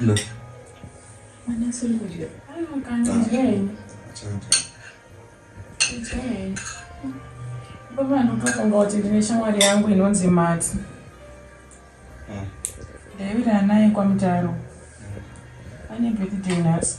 No. Mwana asiri kudya. Baba anotofunga kuti ndine shamwari yangu inonzi Mati. Ah. David anaye kwaMutaro. Ane birthday nhasi.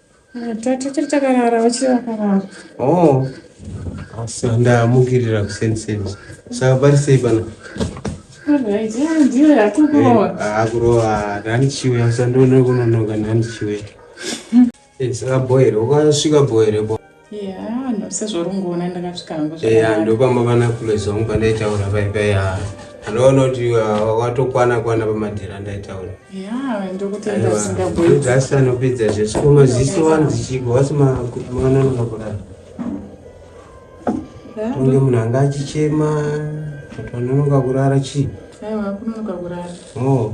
Tiri takarara vachiri vakarara. Oh. Asi ndamukirira kuseni seni. Saka pari sei pano? Ndiyo yakukurova. Eh, Akurova ndani chiwe asandoona kunonoka ndani chiwe. Eh, saka boyere, ukasvika boyere bo. eya ndopamba vanakulezi vangu pandaitaura paipaya anoona kuti uh, watokwana kwana pamadhira ndaitaura asi anopedza zvese ko maziso wani dzichibva wasi mwana anokakurara tonge munhu anga achichema kuti anonoka kurara chii oh.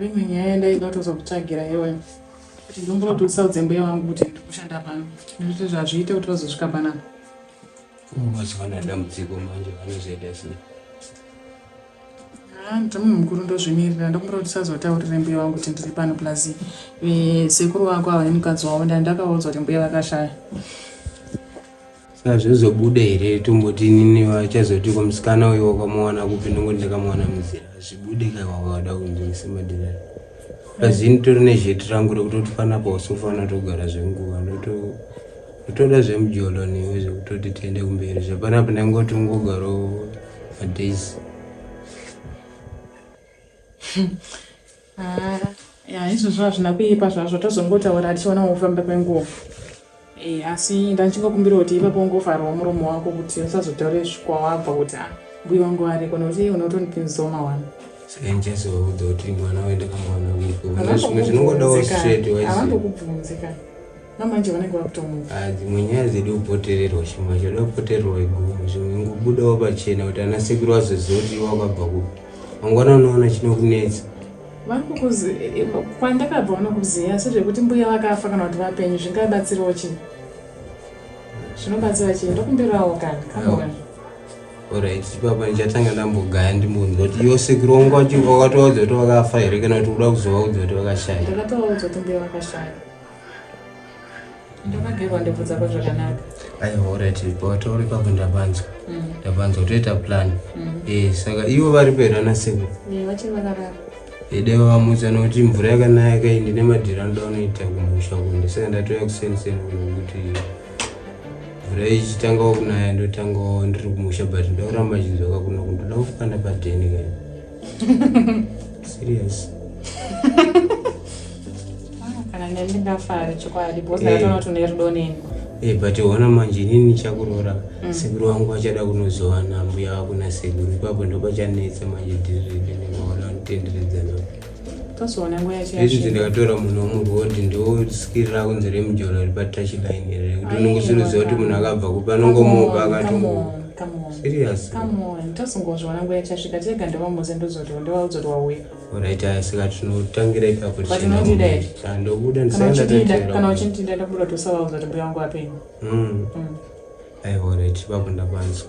Imwe nyaya yandaida kutozokutsvagira iwe kuti ndomboda usaudze mbuya vangu kuti ndiri kushanda pano nekuti zvazviite kuti vazosvika panapa mazuva ano adambudziko manje vanozoita sei ah, ndomunhu mukuru ndozvimirira ndokumbira kuti usazotaurire mbuya vangu kuti ndiri pano plus eh, sekuru vako ava nemukadzi wavo ndandakaudzwa kuti mbuya vakashaya azvizobude here tomboti nini vachazoti ko musikana uyo wakamuwana kupi ndongo ndakamuwana muzira zvibude ka wawada kunzwisa madhina pazini tori nezheti rangu rekutoti panapo usofana togara zvenguva ndotoda zvemujolo newe zvekutoti tiende kumberi zvapanapo ndangoti ungogaro madays haa ya izvozvo hazvina kuipa zvazvo tozongotaura tichiona wokufamba kwenguva e, asi ndandichingokumbira kuti ipapo ungovharawo muromo wako kuti usazotaure zvikwawabva kuti a ah, mbuyi wangu ariko nokuti unotondipinzoma wani sikainjazouda kuti mwana waenda kamwana wiko zvinongodawo straight wise avangokubvunzi kana namanje vanenge vakutomuka ah, dzimwe nyaya dzidi kupotererwa chimwe choda kupotererwa iguma zvimwe ngubudawo pachena kuti ana sekuru vazoziva kuti wakabva kupi mangwana unoona chinokunetsa eh, kwandakabva vanokuziva asi zvekuti mbuya vakafa kana kuti vapenyu zvingabatsirawo chii zvinobatsira chii ndokumbirawo kana kamona orit ipapa ndichatanga ndambogaya ndimbonzwa kuti yo sekuru wangu wacho wakatovaudza kuti vakafa here kana kuti uda kuzovaudzwa kuti vakashaya ndakatovaudza kuti mbuya vakashaya ndakagerwa ndebvu dzako zvakanaka aiwa orit watauri kwako ndapanzwa mm. ndapanzwa toita plan mm. eh, saka ivo vari pera naseko ideva vamudza nokuti mvura yakanaya kai ndine madhira anoda unoita kumusha ku ndisaka ndatouya kuseniseni kuti mvura ichitangawo kunaya ndotangawo ndiri kumusha but ndakuramba chinzwaka kuno kundoda kufana padheni kai serious kana neni ndingafari chokwadi because Eh. ndakatoona kuti une rudo neni Eh, but ona manje inini ndichakuroora Mm. sekuru wangu vachada kunozowana mbuya vako nasekuru ipapo ndopachanetsa manje dhirirepenevaona kutenderedzana tozoona nguva yacho izvi yasvika. ndikatora munhu womurwodi ndioskirira kunze remujolo ripatachline ere kuti Ayi, unongosuruziva kuti munhu akabva kupi anongomupa akatomupa tazongozviona nguva yachasvika tega ndovamuze ndozotiwa ndovaudza kuti wauya orit aya saka tinotangira ipapotinodidaikandobudakandobudakandobuda uchindida ndobuda kuti usavaudza kuti mbuya wangu apenyu hmm. hmm. aiwa orit ipapo ndapanzwa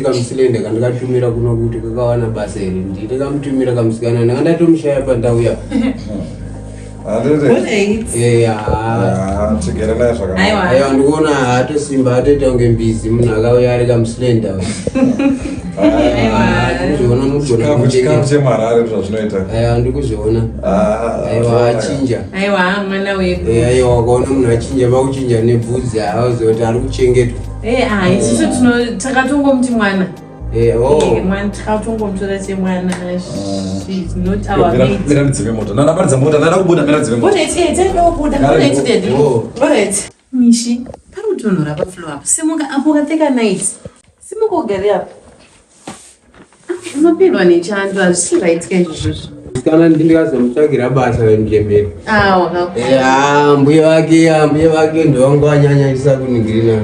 kamusilende kandikatumira kuno kuti kakawana basa here ndini kamutumira kamusikana ndanga ndatomushaya pandau ya aiwa ndikuona haatosimba haatoita kunge mbizi munhu akauya ari kamusilenda ndikuzviona aiwa achinja aiwa mwana wedu aiwa wakaona munhu achinja pakuchinja nebvudzi hauzoti ari kuchengetwa Eh, ah, isusu eh. tino takatongomuti mwana eh, oh. eh, mwana takatongomutora chemwana mira ndidzime moto nana paridza mota nana kubuda mira ndidzime moto mishi pari kutonhora paflo apo simuka apo ukapfeka night simuka ugari apo Unopindwa nechando hazvisi right kaizvozvozvo. Kana ndingazomutsvagira basa remjemberi. Ah, wakaku. Eh, mbuya vake, ah, mbuya vake ndovangu vanyanyisa kunigirina.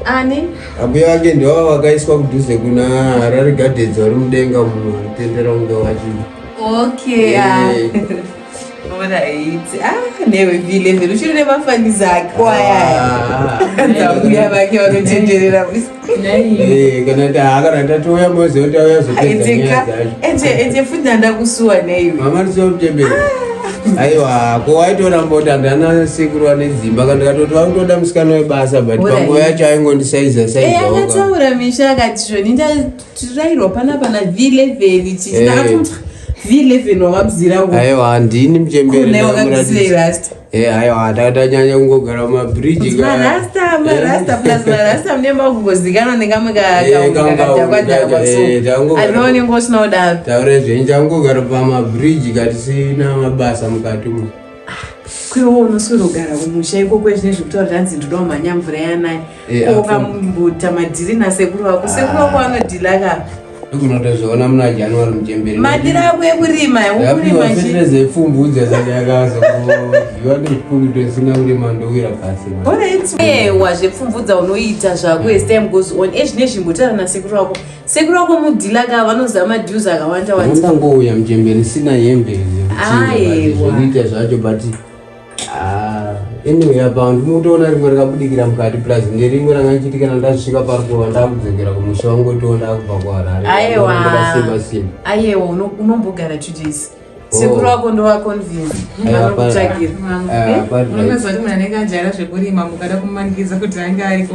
Ani? Ambuya ah, vake ndivavo vakaiswa kudhuze kuna Harare Gardens vari mudenga muno, tendera unga vachii. Okay. Yeah. Alright. Ah, newe vile vile uchiri nemafani zako aya. Ah. Ndakuya vake vanotenderera visi. Eh, kana taakara tatuya mozi otauya zotendera. Ete ete futi ndakusuwa newe. Mama ndiso mtembere. Ah. Aiwa, ko waitora mbota ndana sekuru ane dzimba kana katoti vakutoda musikana webasa but panguva yacho aingondisaiza saiza. Eh, akataura misha akati zvoni tirairwa pana pana v11 tichinaatoti eh. v11 wamabziraaiwa handini mchembereairasta Eh, ayo atatanyanya kungogara mumabridge marasta marasta eh. plus marasta mune makungozikanwa nekamwe kakadhakwadhakwasoaone ngosina kudaro taure zvenyu tangogara pamabridge katisina mabasa mukati umo kwewo unoswirogara kumusha iko kwezvine zvekutaura zvanzi ndodawo mhanya mvura yanaye eh, ko ukambuta madhiri nasekuru vako sekuru vako anodhila ka kunotozviona muna january muchemberi madira ako ekurima ekurima pfumbudza sati yakazoziva nezvipfumbito isina kurima ndowira pasi ewa zvepfumbudza unoita zvako as time goes on ezvine zvimbotaura nasekuru wako Sekuru wako mudhila ka vanoziva madues akawanda wanda. Ndangouya mjembe risina hembe zvokuita zvacho but ah, anyway apa ndinotoona rimwe rakabudikira mukati plus nderimwe ranga ndichitikana ndasvika pari kuva ndakudzokera kumusha wangu toona ndakubva kuharare. Ayewa. Simba simba. Ayewa unombogara two days. Oh. sekuru wako ndovaconvince vanokutsvagira eh, eh, unozoti munhu anenge ajara zvekurima mukada kumanikidza kuti ange ariko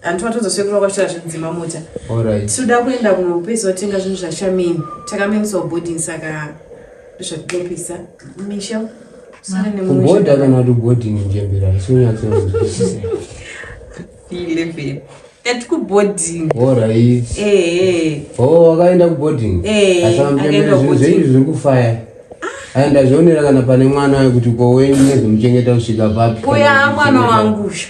hanti watonza sekuru vakwashira zvinzima mota tinoda kuenda kunopesa vatenga zvinhu zvashamini takamemisa boarding saka ndozvatinopisa misha kuboda kana kuti boarding njembera isinyatsoilevel ati kuboarding orit o wakaenda kuboarding asaamjembera zvinhu zveizvi zviri kufaya aenda zvionera kana pane mwana wekuti ko wenyu nezomuchengeta kusvika papi uya mwana wangusha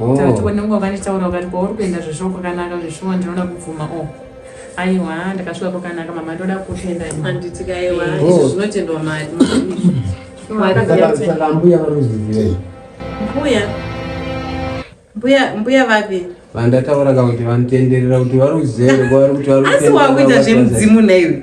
oh. tati wena nguva vanitaura ukati kwauri kuenda zveshuwa kwakanaka zveshuwa ndinoda kubvuma o oh. aiwa ndakasvika kwakanaka mama ndoda kutenda anditi kaiwa eh. izvo oh. zvinotendwa mari mbuya vanozivei mbuya mbuya mbuya vapi vandataura ka kuti vanotenderera kuti vari kuzere kwavari kuti vari asi wakuita zvemudzimu naiwe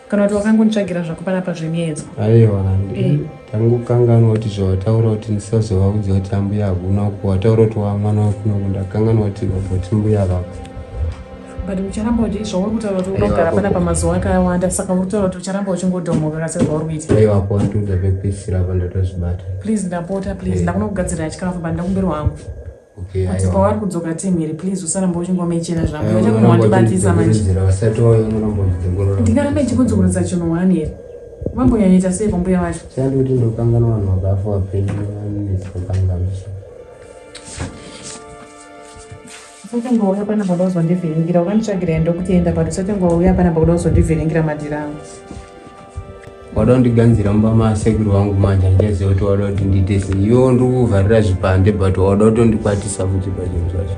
kana kuti wakangonditsvagira zvako panapa zvemiedzo aiwa eh. tangokanganwa kuti zvawataura kuti ndisazovaudza kuti ambuya hakuna uku wataura kuti wamwana wakunoku ndakanganwa kuti vaboti mbuya vako but ucharamba uchi zvauri kutaura kuti unogara panapa mazuva akawanda saka uri kutaura kuti ucharamba uchingodhomoka kasi zvauri kuita aiwa ko ndikuda pekuisira apa ndatozvibata please ndapota please eh. ndakuna kugadzirira chikafu but ndakumbirwa hangu Okay, kuti pavari kudzoka team iri please usaramba uchingoma ichena zvangu eh, chakuma wandibatisa manje ndingaramba ichikudzungurudza chinhu wani here vambonyanyaita sei kwambuya vacho chandi kuti ndokangana vanhu vakafa vapenyu vanetsokangamisha usatengouya pana baba uzondivhiringira ukanditsvagira enda kuti enda pati usatengouya pana baba uzondivhiringira madhira angu wada kundiganzira mumba maasekuru vangu manje handichaziva kuti wada kuti ndiite sei iwo ndiri kuvharira zvipande but wada kutondikwatisa futi pachinhu zvacho